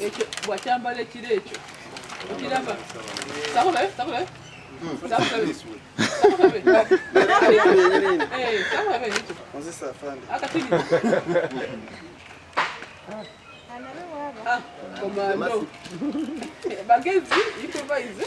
ekyo wakyambala ekiro ekyo okiraba sabula sabula komando bagezi improvise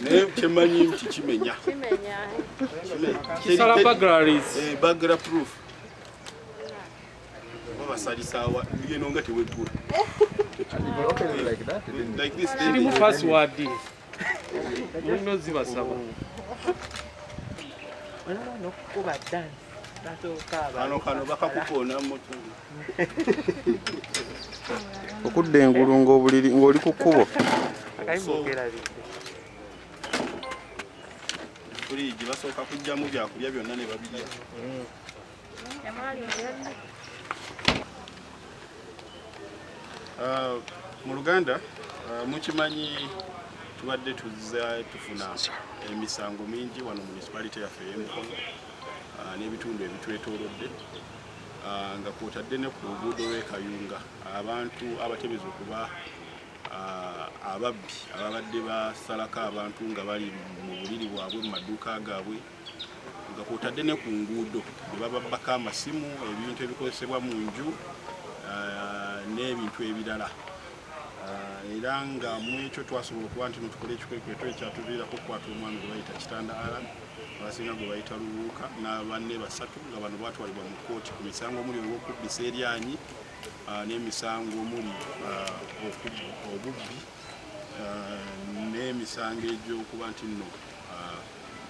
naye kyemanyi nti kimenya kisala bagraries eh, bagra proof babasalisawa yeno nga teweggula kirimu password mulina ozibasaba nokukuba dance okudda engulu ngaobuliri ngaoli ku kkubo fuliji basooka kujjamu byakulya byonna ne babirya mm. Uh, mu luganda uh, mukimanyi tubadde tuzza tufuna emisango mingi wano municipality yaffe eyemukono uh, n'ebitundu ebitwetoolodde uh, nga kwotadde ne ku luguudo lw'ekayunga abantu abatemeza okuba uh, ababbi ababadde basalako abantu nga bali mu buliri bwabwe mu maduuka gaabwe uh, nga kwotadde ne ku nguudo ne bababbako amasimu ebintu ebikozesebwa mu nju ah, n'ebintu ebirala ah, era nga mu ekyo twasobola okuba nti notukola ekikwekweto ekyatuviirako okukwata omwami gwe bayita kitanda alan abasinga gwe bayita lubuuka n'abanne basatu nga bano batwalibwa mu kkooti ku misango omuli olw'okubbisa eryanyi ah, n'emisango omuli obubbi n'emisango egy'okuba nti nno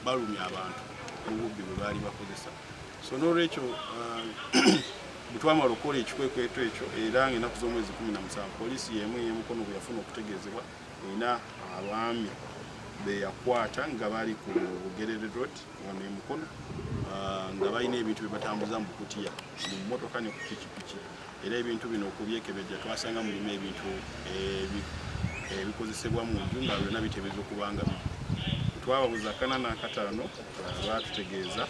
balumya abantu mu bubbi bwe baali bakozesa so n'olwekyo uh, bwe twamala okukola ekikwekweto ekyo era ng'enaku z'omwezi kumi na musanvu poliisi y'emu ey'emukono bwe yafuna okutegeezebwa erina abaami be yakwata nga bali ku bugerere road wano emukono uh, nga balina ebintu bye batambuza mu kutiya mu mmotoka ne ku pikipiki era ebintu bino okubyekebejja twasanga mulimu ebintu ebikozesebwa mu nju nga byonna bitebeeza okuba nga twababuza kana n'akataano baatutegeeza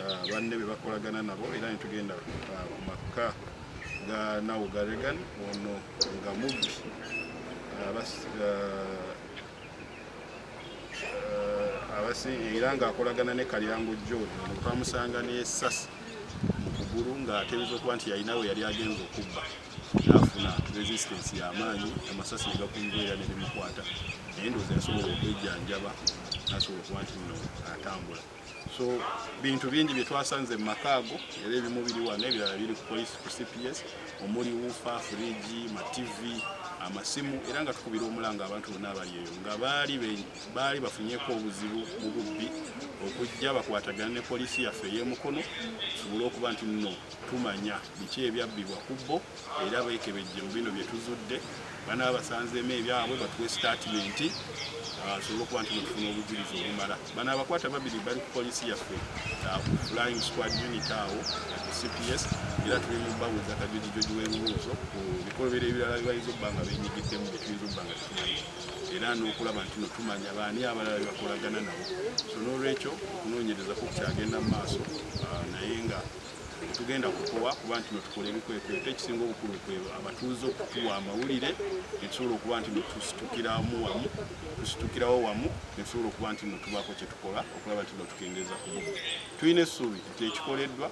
uh, banne be bakolagana nabo era ne tugenda uh, ku makka ga nawo ga regan ono nga mubbi uh, era ng'akolagana ne kalyango john ono twamusanga n'esasi mu kugulu ng'ateebereza okuba nti yalina we yali agenza okubba n'afuna resistance y'amaanyi amasasi ne gakunjula era ne bimukwata naye ndowooza yasobola okwejjanjaba n'asobola okuba nti nno atambula so bintu bingi bye twasanze mu maka ago era ebimu biri wano ebirala biri ku police ku cps omuli wufa furiji mativi amasimu era nga tukubira omulanga abantu bonna abali eyo nga baali baali bafunyeko obuzibu mu bubbi okujja bakwatagana ne poliisi yaffe ey'emukono tusobole okuba nti nno tumanya biki ebyabbibwa ku bbo era beekebejje mu bino bye tuzudde banaba basanzeemu ebyabwe batuwe sitaatimenti asobole okuba nti mufuna obujulizi obumala bano abakwata babiri bali ku poliisi yaffe flying squad unit awo ku cps era tuli mu babuuza kajojijoji w'ebibuuzo ku bikolobero ebirala bibayinza okuba nga benyigiddemu byetuyinza okuba nga tetumanyi era n'okulaba nti notumanya baani abalala bebakolagana nabo so n'olwekyo okunoonyereza ku kukyagenda mu maaso ah, naye nga tugenda kukowa kuba nti notukola ebikwekweto ekisinga obukulu kwe abatuuze okutuwa amawulire netusobola okuba nti notusitukiramu wamu tusitukirawo wamu netusobola okuba nti notubaako kyetukola okulaba nti notukendeeza ku tulina essuubi nti ekikoleddwa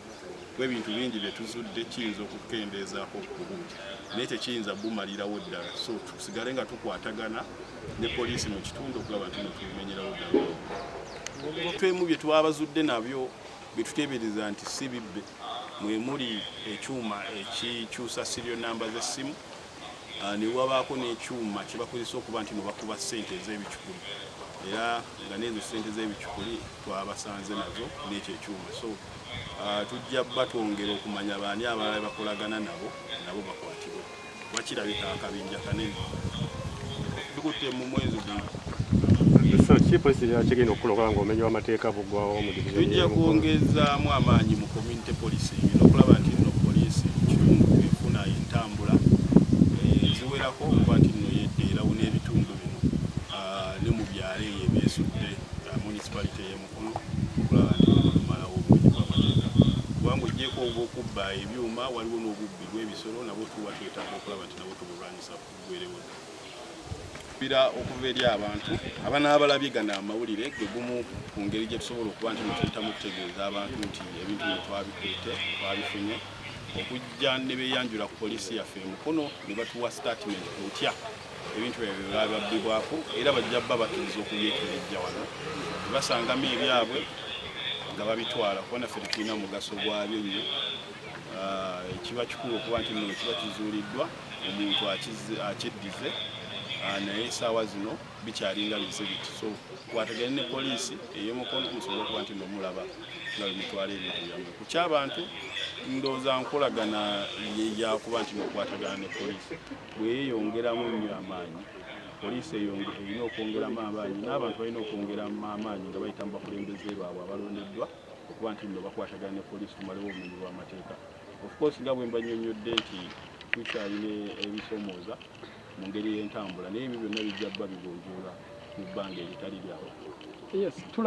ebintu bingi bye tuzudde kiyinza okukendeezaako okubu naye tekiyinza bumalirawo ddala so tusigale nga tukwatagana ne poliisi mu kitundu okulaba nti netubimenyerawo ddala twemu bye twabazudde nabyo bye tuteebereza nti si bibbe mwe muli ekyuma ekikyusa sirio namba z'essimu ah, ne wabaako n'ekyuma kye bakozesa okuba nti nebakuba ssente ez'ebicukuli era nga n'ezo ssente z'ebicukuli twabasanze nazo n'ekyo ekyuma so Tujja batwongera okumanya baani abalala be bakolagana nabo nabo bakwatibwe kuba kirabika akabinja kanene bikutte mu mwezi guno. Kiki poliisi kigenda okukola okulaba ng'obumenyi bw'amateeka buggwawo mu divizoni? Tujja kwongezaamu amaanyi mu community policing n'okulaba nti nno poliisi mu kitundu efuna entambula eziwerako okuba nti nno yedda erawuna ebitundu bino ne mu byalo eyo ebyesudde municipality y'emu okulaba nti tumalawo obubbi bw'amateeka kubanga ojjeeko obw'okubba ebyuma waliwo n'obubbi bw'ebisolo nabwo tuba twetaaga okulaba nti nabwo tubulwanyisa kuggwerewo bira okuva eri abantu abanaabalabye gano amawulire gwe gumu ku ngeri gye tusobola okuba nti netuyitamu okutegeeza abantu nti ebintu bino twabikutte twabifunye okujja ne beeyanjula ku poliisi yaffe e mukono ne batuwa sitatimenti ku ntya ebintu ebyo byebababbibwako era bajja bba bakkiriza okubyekebejja wano basangamu ebyabwe nga babitwala kuba naffe tetulina mugaso gwabyo nnyo ah, ekiba kikulu okuba nti no kiba kizuuliddwa omuntu akyeddize ah, naye esaawa zino bikyalinga bize biti so kwatagane ne poliisi eyomukono musobole okuba nti nomulaba nga bemutwala ebintu byamwe ku kyabantu ndooza nkolagana yeyakuba nti nokwatagana ne poliisi bweyeyongeramu ennyo amaanyi, poliisi eyonge erina okwongeramu amaanyi n'abantu balina okwongeramu amaanyi nga bayita mu bakulembeze baabwe abalondeddwa okuba nti nno bakwatagana ne poliisi tumalewo obumenyi bw'amateeka. Of course nga bwe mbannyonnyodde nti tukyalina ebisomooza mu ngeri y'entambula naye ebyo byonna bijja kuba bigonjoola mu bbanga eritali lyawo. Yes,